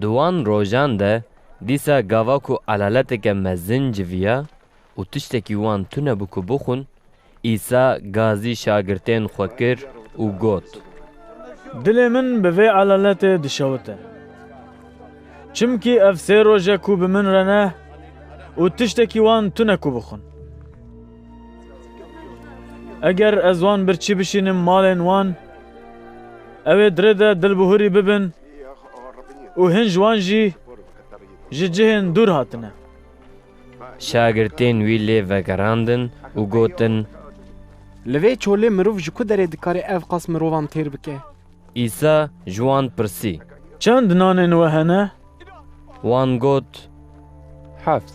Di wan rojan de dîsa gava ku elaleteke mezin civiya û tiştekî wan tunebû ku bixwin, Îsa gazî şagirtên xwe kir û got. Dilê min bi vê elaletê dişewite. Çimkî ev sê roj e ku bi min re ne û tiştekî wan tune ku bixwin. Eger ez wan birçî bişînim malên wan, ew ê dirê de dilbihurî bibin û hin ji wan jî ji cihên dûr hatine. Şagirtên wî lê vegerandin û gotin. Li vê çolê mirov ji ku derê dikarê ev qas mirovan têr bike? Îsa ji wan pirsî. Çend nanên we hene? Wan got, Heft.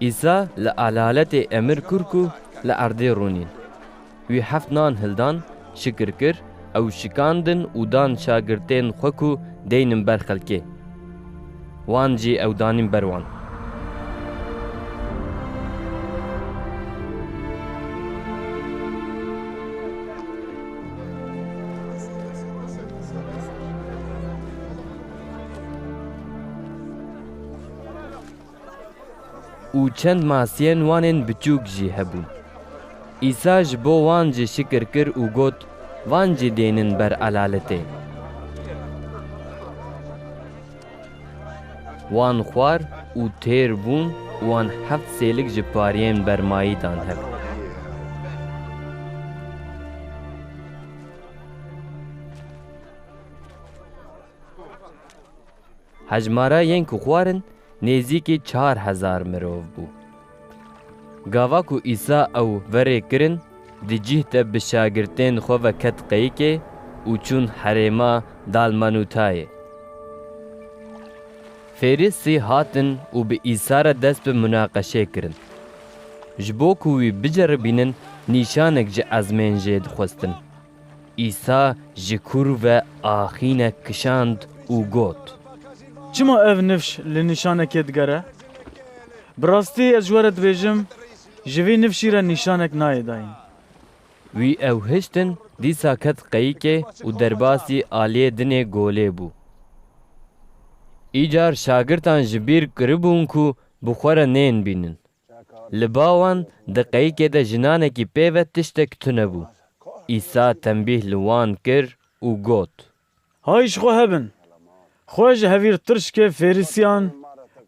Îsa li elaletê emir kur ku li erdê rûnîn. Wî heft nan hildan, şikir kir, ew şikandin û dan şagirtên xwe ku deynin ber xelkê. Wan jî ew danîn ber wan. Û çend masiyên wanên biçûk jî hebûn. Îsa ji bo wan jî şikir kir û got, Van jî dênin ber elaletê. Wan xwar û têr bûn û wan heft sêlik ji pariyên bermayî dan hev. Hejmara yên ku xwarin nêzîkî çar hezar mirov bû. Gava ku Îsa ew verê kirin, di cîh de bi şagirtên xwe ve ket qeyikê û çûn herêma Dalmanutayê. Fêrîsî hatin û bi Îsa re dest bi munaqeşê kirin. Ji bo ku wî biceribînin nîşanek ji ezmên jê dixwestin. Îsa ji kûr ve axînek kişand û got. Çima ev nifş li nîşanekê digere? Bi rastî ez ji we re dibêjim, ji vî nifşî re nîşanek nayê dayîn. Wî ew hiştin, dîsa ket qeyikê û derbasî aliyê dinê golê bû. Îcar şagirtan ji bîr kiribûn ku bi xwe re nên bînin. Li ba wan di qeyikê de jinanekî pê ve tiştek tune bû. Îsa tembîh li wan kir û got. Hay ji xwe hebin! Xwe ji hevîrtirşkê Fêrîsiyan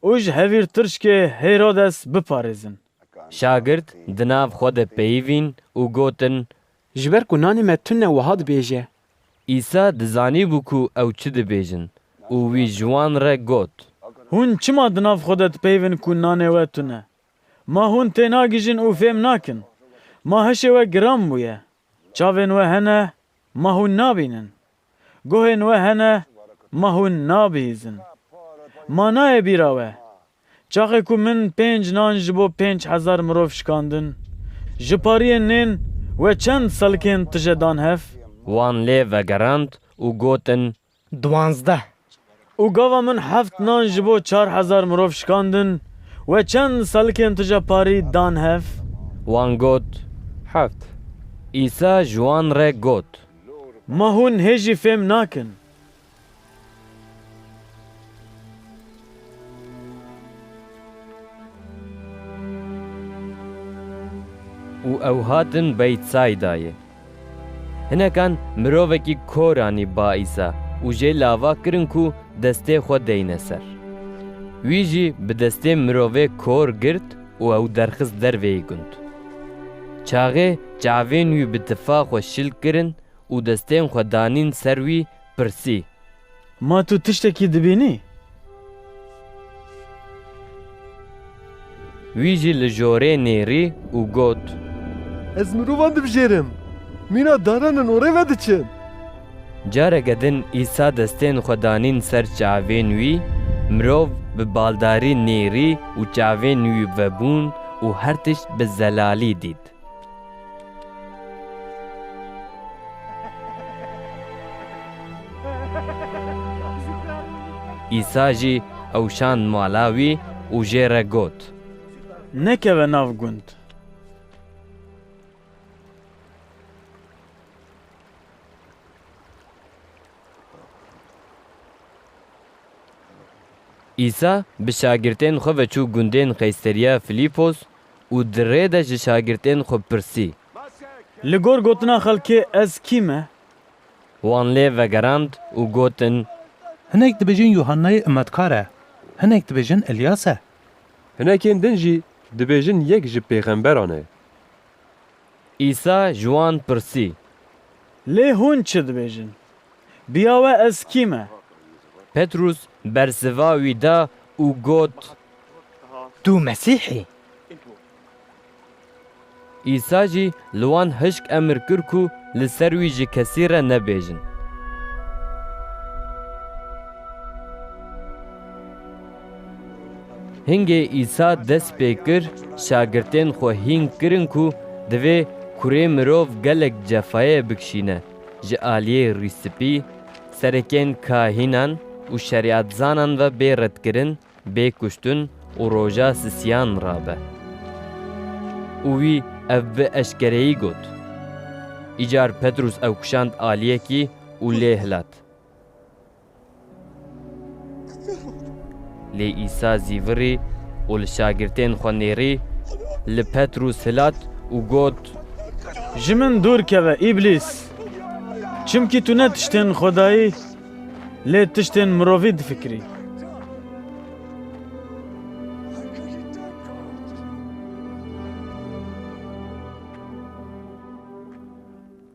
û ji hevîrtirşkê Hêrodes biparêzin. Şagirt di nav xwe de peyivîn û gotin. Ji ber ku nanê me tune wiha dibêje, Îsa dizanîbû ku ew çi dibêjin û wî ji wan re got. Hûn çima di nav xwe de dipeyivin ku nanê we tun e? Ma hûn tênagihîjin û fêm nakin? Ma hişê we giran bûye? Çavên we hene, ma hûn nabînin? Guhên we hene, ma hûn nabihîzin? Ma nayê bîra we Çaxê ku min pênc nan ji bo pênc hezar mirov şikandin, ji pariyên nên we çend selkên tije dan hev? Wan lê vegerand û gotin. Duwazdeh. Û gava min heft nan ji bo çar hezar mirov şikandin, we çend selkên tije parî dan hev? Wan got, Heft. Îsa ji wan re got. Ma hûn hê jî fêm nakin? û ew hatin Beytsaydayê. Hinekan mirovekî kor anî ba Îsa û jê li ava kirin ku destê xwe deyne ser. Wî jî bi destê mirovê kor girt û ew derxist derveyî gund. Çaxê çavên wî bi tifa xwe şil kirin û destên xwe danîn ser wî, pirsî. Ma tu tiştekî dibînî? Wî jî li jorê nêrî û got. Ez mirovan dibijêrim, mîna danan in orê ve diçin. Careke din Îsa destên xwe danîn ser çavên wî, mirov bi baldarî nêrî û çavên wî vebûn û her tişt bi zelalî dît. Îsa jî ew şand mala wî û jê re got. Nekeve nav gund. Îsa bi şagirtên xwe ve çû gundên Qeyseriya Filîpos û di rê de ji şagirtên xwe pirsî. Li gor gotina xelkê ez kî me? Wan lê vegerand û gotin. Hinek dibêjin Yuhannayê Imetkar e, hinek dibêjin Îlyas e. Hinekên din jî dibêjin yek ji pêxemberan e. Îsa ji wan pirsî. Lê hûn çi dibêjin? Biya we ez kî me? Petrûs bersiva wî da û got. Tu Mesîh î. Îsa jî li wan hişk emir kir ku li ser wî ji kesî re nebêjin. Hingê Îsa dest pê kir, şagirtên xwe hîn kirin ku divê Kurê Mirov gelek cefayê bikişîne ji aliyê rîspî, serekên kahînan û şerîetzanan ve bê redkirin, bê kuştin û roja sisiyan rabe. Û wî ev bi eşkereyî got. Îcar Petrûs ew kişand aliyekî û lê hilat. Lê Îsa zî virî û li şagirtên xwe nêrî li Petrûs hilat û got. Ji min dûr keve Îblîs! Çimkî tu ne tiştên Xwedayî lê tiştên mirovî difikirî.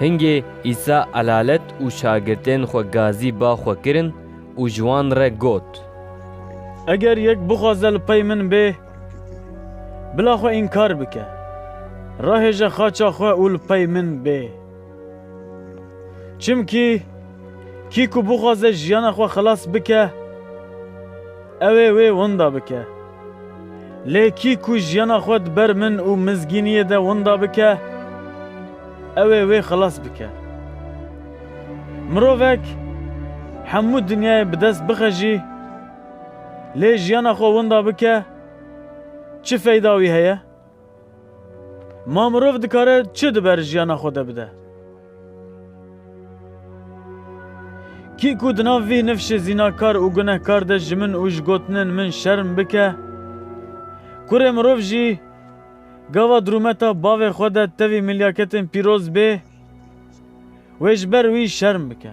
Hingê Îsa elalet û şagirtên xwe gazî ba xwe kirin û ji wan re got. Eger yek bixwaze li pey min bê, bila xwe înkar bike, rahêje xaça xwe û li pey min bê. Çimkî kî ku bixwaze jiyana xwe xilas bike, Ew ê wê winda bike. Lê kî ku jiyana xwe di ber min û mizgîniyê de winda bike, ew ê wê xilas bike. Mirovek hemû dinyayê bi dest bixe jî, lê jiyana xwe winda bike, çi feyda wî heye? Ma mirov dikare çi di ber jiyana xwe de bide? Kî ku di nav vîh nifşê zînakar û gunehkar de ji min û ji gotinên min şerm bike, kurê mirov jî gava di rûmeta bavê xwe de tevî milyaketên pîroz bê, wê ji ber wî şerm bike.